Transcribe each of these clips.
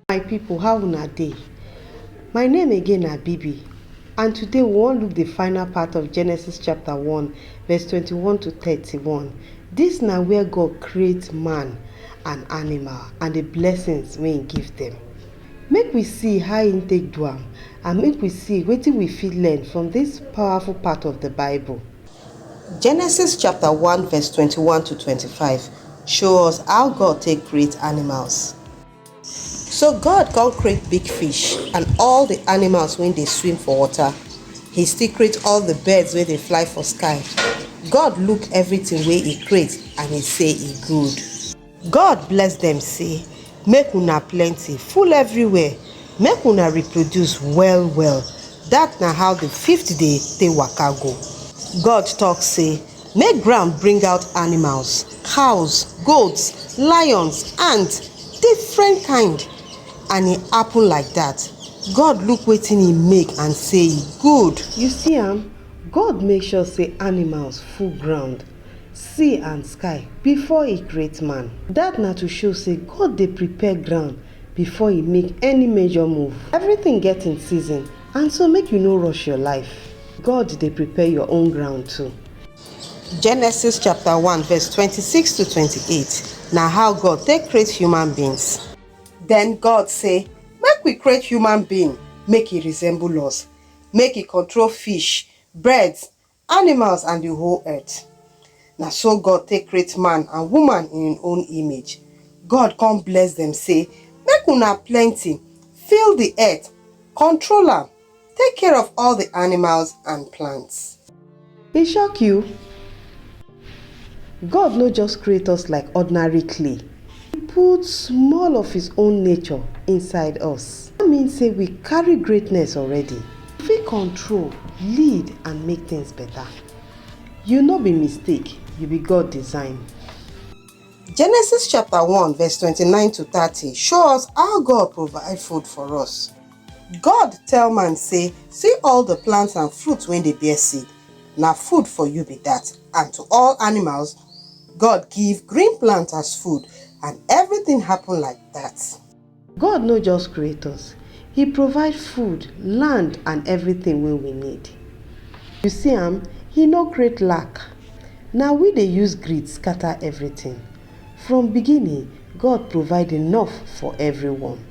my people how una dey my name again na bibi and today we wan look the final part of genesis chapter 1 verse 21 to 31 this na where god create man and animal and the blessings wey he give them make we see how he take do am and make we see wetin we fit learn from this powerful part of the bible Genesis chapta one vess twenty one to twenty five show us how God take create animals. So God come create big fish and all di animals wey dey swim for water, he still create all di birds wey dey fly for sky. God look evritin wey he create and he say e good. God bless dem say, Make una plenty, full everywhere, make una reproduce well well. Dat na how di fifth day take waka go. God tok say, Make ground bring out animals, cows, goats, lions, and different kind. And e happen like dat. God look wetin e make and say e good. You see am, God make sure say animals full ground. sea and sky before e create man. Dat na to show sey God dey prepare ground before e make any major move. Everything get im season and so make you no rush your life. God dey prepare your own ground too. Genesis chapter one verse twenty six to twenty eight na how God take create human beings. Den God sey, Make we create human being make e resemble us, make e control fish, birds, Animals and di whole earth. Na so God take create man and woman in im own image. God con bless dem sey, Make una plenty, fill di earth, control am, take care of all di animals and plants. E shock you? God no just create us like ordinary clay, He put small of His own nature inside us. Dat mean say we carry greatness already. You fit control, lead and make things better. You no be mistake, you be God design. Genesis chapter one verse twenty nine to thirty show us how God provide food for us. God tell man sey, See all the plants and fruit wey dey bear seed, na food for you be dat, and to all animals, God give green plant as food, and everything happen like dat. God no just create us, He provide food, land and everything wey we need. You see am, He no create lack, na we dey use greed scatter everything. From beginning, God provide enough for everyone.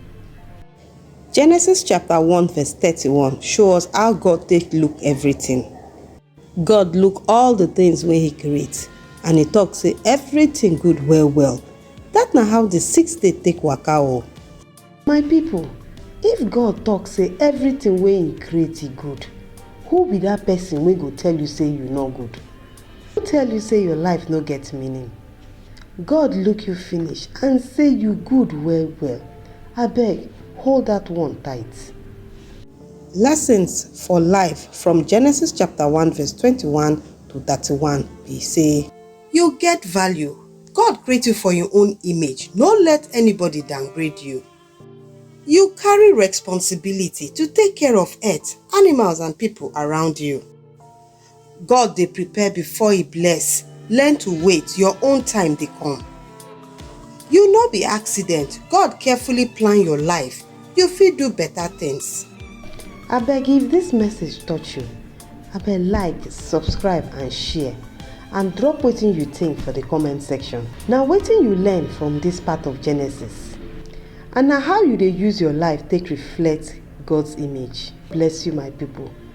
Genesis chapter one verse thirty one show us how God take look everything. God look all the things wey he create and he talk say everything good well well. That na how the sixth day take waka o. My people, if God talk say everything wey he create e good, who be that person wey go tell you say you no good? Who tell you say your life no get meaning? God look you finish and say you good well well, abeg hold that one tight. Lessons for life from Genesis chapter one verse twenty-one to thirty-one be say. You get value, God create you for im own image, no let anybody downgrade you. You carry responsibility to take care of earth, animals and people around you. God dey prepare before he bless, learn to wait, your own time dey come. You no be accident, God carefully plan your life, you fit do better things. Abeg if this message touch you, abeg like, subscribe and share and drop wetin you think for the comment section. Na wetin you learn from this part of Genesis and na how you dey use your life take reflect God's image. Bless you my people.